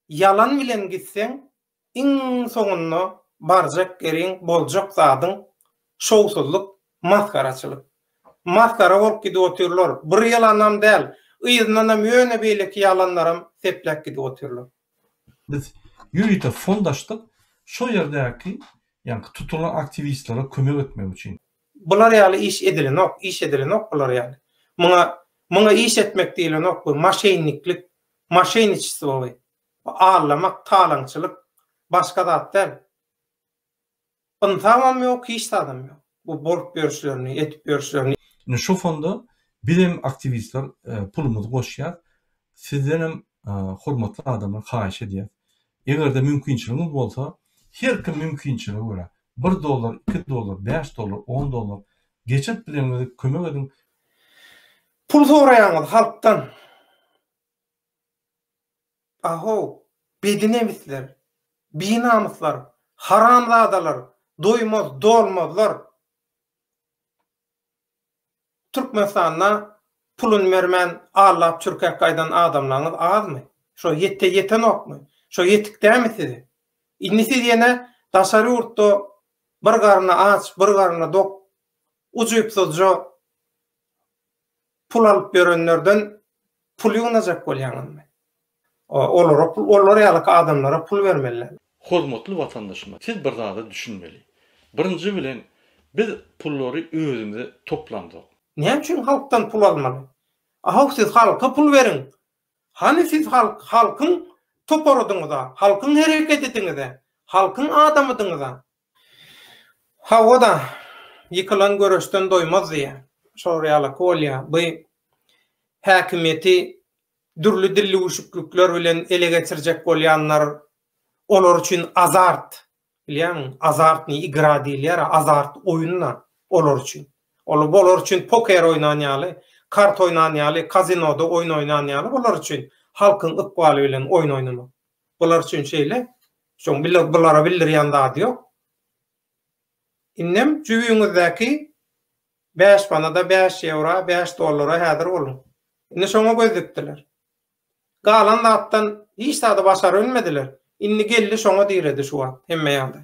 Ýalan bilen gitseň iň soňunda barjak ýeriň boljak zadyň şowsuzlyk masgaraçylyk. Masgara bolup gidip otyrlar. Bir ýalanam däl, yzyndanam ýöne beýleki ýalanlaram sepläp gidip otyrlar. Biz ýörite fond açdyk, şo ýerdäki ýaňky tutulan aktiwistlere kömek etmek üçin. Bular ýaly iş edilenok, iş edilenok bular ýaly. Muňa, muňa iş etmek diýlenok, bu maşenniklik, maşeniçestvo bu. Bu allamak, talaňçylyk, başga zat däl. Ynsabam ýok, hiç zadam ýok. Bu bolup ýörşlerini, edip ýörşlerini. Indi şu fonda biz hem aktiwistler pulumyzy goşýas. Sizden hem hormatly adamlar haýyş edýäs. Eger-de mümkinçiligiňiz bolsa, her kim mümkinçilige görä, Bir dollar, iki dollar, bäş dollar, on dollar geçirip bileňiňizi kömek ediň. Pul soraýaňyz halkdan. Ahow, bedinemisler, binamyslar, haramzadalar, doýmaz, dolmazlar. Türkmenistanda pulun bermän allap çürkäp gaýdan adamlaňyz azmy? Şo ýetde ýetenokmy? Şo ýetik dämi size? Indi siz ýene daşary ýurtda bir garny aç, bir garny dok ujypsyzja pul alyp ýörenlerden pul ýygnajak bolýaňyzmy? Olara pul, olar ýaly adamlara pul bermeliler. Hormatly watandaşymyz, siz bir zada düşünmeli. Birinji bilen, biz pullary özümize toplamzok. Näme üçin halkdan pul almaly? Ahow siz halka pul beriň. Hany siz halk, halkyň toparydyňyza, halkyň hereketidiňize, halkyň adamydyňyza. Hawa-da, ýykylan göreşden doýmaz diýýär. Şolar ýalyky bolýar. Bu häkimiýeti dürli dilli üşüklikler bilen ele geçirjek bolýanlar, olar üçin azart, bilýäňmi, azartnyý igra diýilýär-ä, azart oýun-da olar üçin. Ol olar üçin poker oýnan ýaly, kart oýnan ýaly, kazinoda oýun oýnan ýaly bular üçin halkyň ykbaly bilen oýun oýnamak. Bular üçin şeýle, şoň bulara bildirýän zady ýok. Indem jübiňizdäki Bäş manada, bäş ýewra, bäş dollara häzir boluň. Indi şoňa göz dikdiler. Galan zatdan hiç zady başarybilmediler. Indi geldi şoňa diredi şu wagt hemme ýagdaý.